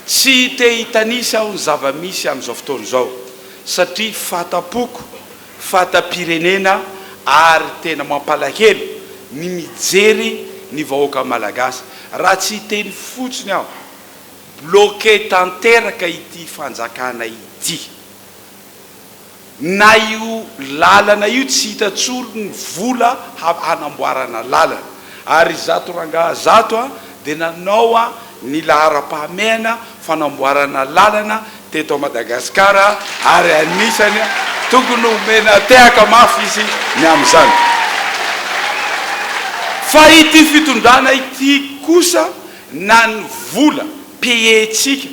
Tsy te hitanisa aho ny zava-misy amin'izao fotoana izao satria fahatampoko, fahatam-pirenena ary tena mampalahelo ny mijery ny vahoaka malagasy. Raha tsy hiteny fotsiny aho, bloqué tanteraka ity fanjakana ity. Na io lalana io tsy hita tsony ny vola hanamboarana lalana ary izato rangaha zato a dia nanao a ny laharam-pahamehana fanamboarana lalana teto a Madagascar a ary anisany a tokony homena tehaka mafy izy ny amin'izany. Fa ity fitondrana ity kosa na ny vola paie-tsika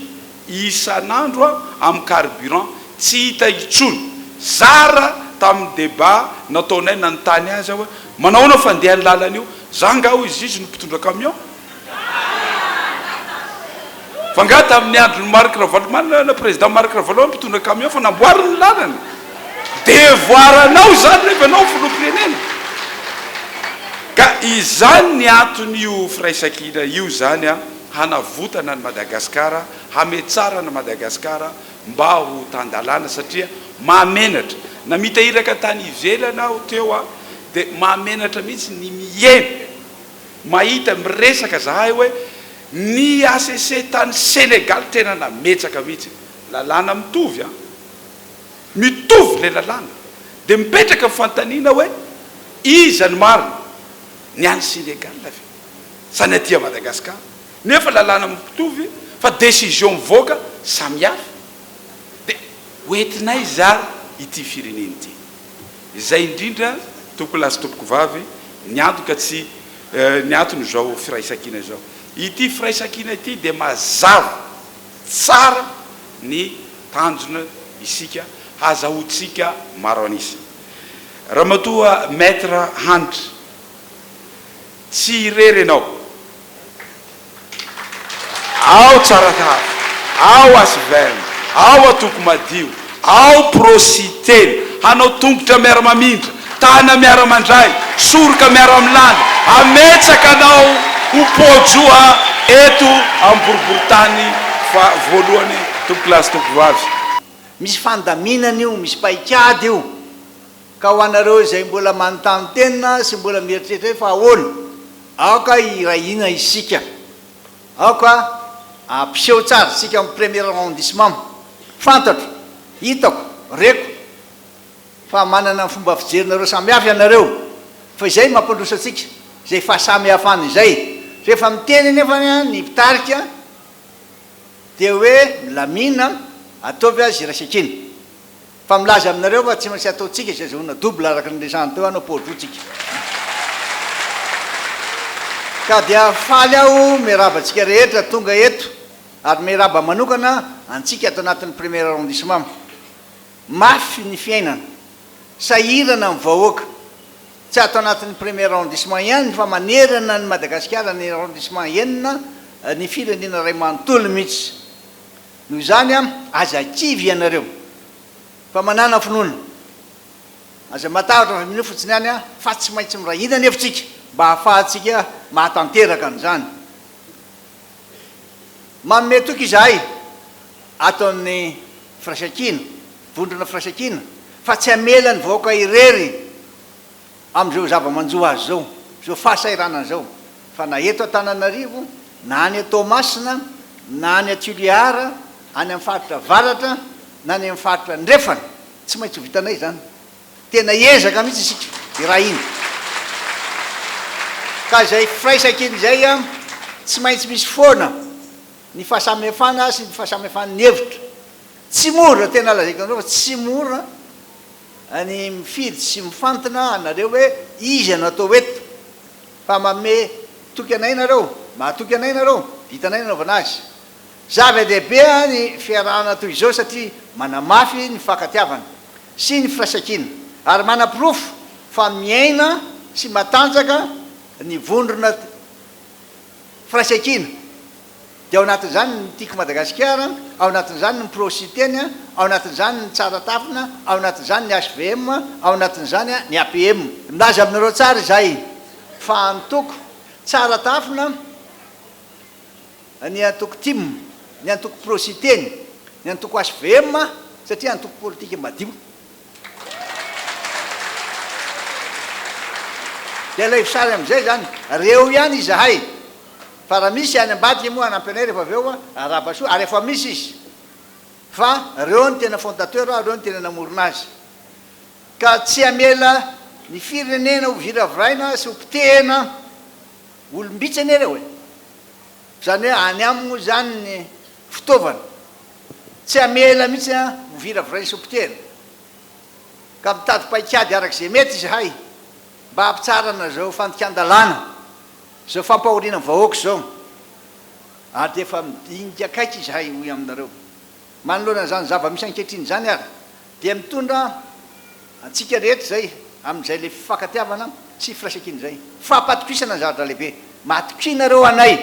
isan'andro amin'ny carburant tsy hita intsony. Zara tamin'ny débat nataonay nanontany azy aho hoe manahoana fandehan'ny lalana io? Za nga hoy izy, izy no mpitondra camion? Fa nga tamin'ny andron'i Marc Ravalomanana, président Marc Ravalo mpitondra camion fa namboariny ny lalana? Devoir anao izany rehefa ianao filoham-pirenena. Ka izany ny anton'io firaisankina io izany an. hanavotana an'i Madagasikara, hametsarana Madagasikara mba ho tan-dalàna satria mahamenatra. Na mitahiraka tany ivelany aho teo a, dia mahamenatra mihitsy ny mihaino, mahita miresaka zahay hoe ny HCC tany Senegaly tena nametsaka mihitsy. Lalàna mitovy an! Mitovy ilay lalàna. Dia mipetraka ny fanontaniana hoe iza ny marina? Ny any Senegaly ve? zany aty a Madagascar nefa lalàna mpitovy fa décision mivoaka samy hafa de hoentinay zara ity firenena ity izay indrindra tompoko lahy sy tompoko vavy ny antoka tsy ny antony zao firaisankina zao ity firaisankina ity de mazava tsara ny tanjona isika hazahoantsika maro an'isa ramatoa maître Hanitra Tsy irery ianao. Ao Tsaratanàna, ao Asvm, ao Antoko Madio, ao Pro Siteny, hanao tongotra miara-mamindra, tàna miara-mandray, soroka miara-milàna, hametaka anao ho poa-joa eto amin'ny boriborintany fa voalohany Tompokolahy sy Tompokovavy. Misy fandaminana io, misy paikady io. Ka ho anareo izay mbola manontany tena sy mbola mieritreritra hoe fa ahoana? Aoka hiray hina isika. Aoka hampiseho tsara isika amin'ny premier arrondissement. Fantatro, hitako, reko fa manana ny fomba fijerinareo samihafa ianareo. Fa izay mampandroso antsika, izay fahasamihafana izay. Rehefa miteny anefa ny mpitarika dia hoe milamina, ataovy azy iraisakina. Fa milaza aminareo fa tsy maintsy ataontsika izay azahoana double araka ny niresahany teo hanao port route tsika. Ka dia faly aho miarahaba antsika rehetra tonga eto ary miarahaba manokana antsika ato anatin'ny premier arrondissement. Mafy ny fiainana. Sahirana ny vahoaka. Tsy ato anatin'ny premier arrondissement ihany fa manerana an'i Madagasikara ny arrondissement enina ny firenena iray manontolo mihitsy. Noho izany an, aza kivy ianareo fa manana finoana. Aza matahotra fa mino fotsiny ihany an, fa tsy maintsy miray hina anefa isika mba hahafahantsika mahatanteraka an'izany. Manome toky izahay ato amin'ny Firaisankina, Vondrona Firaisankina, fa tsy hamela ny vahoaka irery. amin'izao zava-manjo azy izao, izao fahasahiranana izao, fa na eto Antananarivo, na any Toamasina, na any Toliara, any amin'ny faritra avaratra, na any amin'ny faritra andrefana, tsy maintsy ho vitanay izany. Tena hiezaka mihitsy isika hirahina. Ka izay firaisankina izay, tsy maintsy misy foana ny fahasamihafana sy ny fahasamihafan'ny hevitra. Tsy mora, tena lazaiko aminareo fa tsy mora. Any mifidy sy mifantina anareo hoe iza no atao eto fa manome toky anay nareo, mahatoky anay nareo, vitanay ny anaovana azy. Zava dehibe ny fiarahana toy izao satria manamafy ny fakatiavana sy ny firaisankina ary manaporofo fa miaina sy matanjaka ny vondrona. firaisankina, dia ao anatin'izany ny Tiako Madagasikara, ao anatin'izany ny Pro Siteny, ao anatin'izany ny Tsara Tafina, ao anatin'izany ny hvm, ao anatin'izany ny APM. Milaza aminareo tsara izahay fa antoko Tsara Tafina, ny antoko tim, ny antoko Pro Siteny, ny antoko hvm, satria antoko politika madio. Dia alaivo sary amin'izay izany, ary eo ihany izahay. Fa raha misy any ambadika moa hanampy anay rehefa avy eo, arahaba soa, ary efa misy izy. Fa ireo no tena fondateur, ireo no tena namorona azy. Ka tsy hamela ny firenena hoviraviraina sy hopotehina olom-bitsy anie ireo e! Izany hoe any aminy moa izany ny fitaovana. Tsy hamela mihitsy an ho viravirain'ny sompiteny. Ka mitady paikady araka izay mety izahay mba hampitsarana izao fandikan-dalàna, izao fampahoriana ny vahoaka izao. Ary dia efa midinika akaiky izahay, hoy aminareo. Manoloana izany zava-misy ankehitriny izany ary Dia mitondra antsika rehetra izay amin'izay ilay fifankatiavana sy firaisankina izay. Fampatokisana ny zavatra lehibe. Matokianareo anay.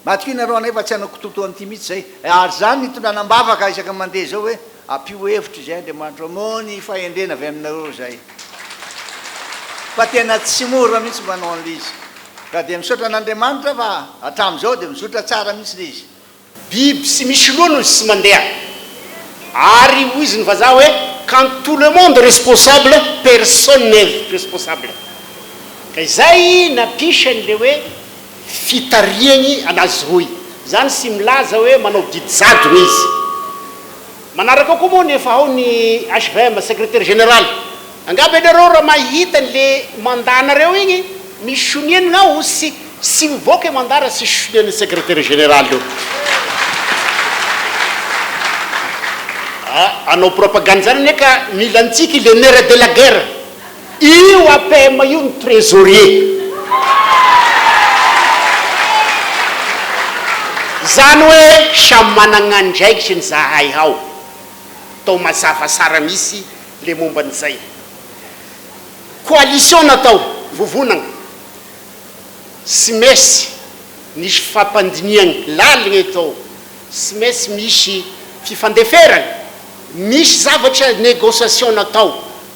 Matokianareo anay fa tsy hanao kitoto an'ity mihitsy izay. Ary izany no itondrana am-bavaka isaky ny mandeha izao hoe, ampio hevitra izay Andriamanitro hamoha ny fahendrena avy aminareo izay. Fa tena tsy mora mihitsy manao an'ilay izy. Ka dia misaotra an'Andriamanitra fa hatramin'izao dia mizotra tsara mihitsy ilay izy. Biby tsy misy loha no tsy mandeha. Ary hoizy ny vazaha hoe quand tout le monde responsable personne n'est responsable. Ka izay nampisany ilay hoe fitarihany anazy roy. Izany tsy milaza hoe manao didy jadona izy. Manaraka ao koa moa nefa ao ny HVM, Secretaire Général. Angamba ianareo raha mahita ny le mandat nareo igny misy sonianigna ao sy tsy mivoaka i mandat raha tsisy sonian'ny Secretaire Général io. Aa, anao propagande zany anie ka mila antsika i le nerf de la guerre. Io APM io ny trésorier. Zany hoe samy managna andraikitry ny zahay hao. Tao mazava sara misy le momba ny zay. Coalition natao, vovonagna. Tsy maintsy nisy fampandinihagna laligna eto ao. Tsy maintsy misy fifandeferagna. Misy zavatra négociation natao.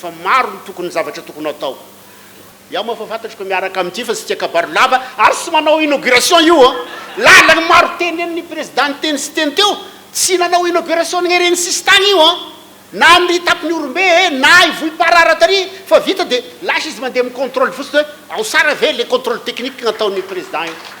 Fa maro ny tokony zavatra tokony atao. Iaho moa efa fantatro ka miaraka amin'ity fa tsy tia kabary lava ary tsy manao inauguration io an! Lalany maro tenenin'ny prezida niteny sy teny teo, tsy nanao inauguration ny ireny sisintany io an! Na ny tampony Ihorombe e, na i Vohipara-ara tary fa vita dia lasa izy mandeha mi-controle fotsiny hoe ao sara ve le controle technique nataon'ny prezida io.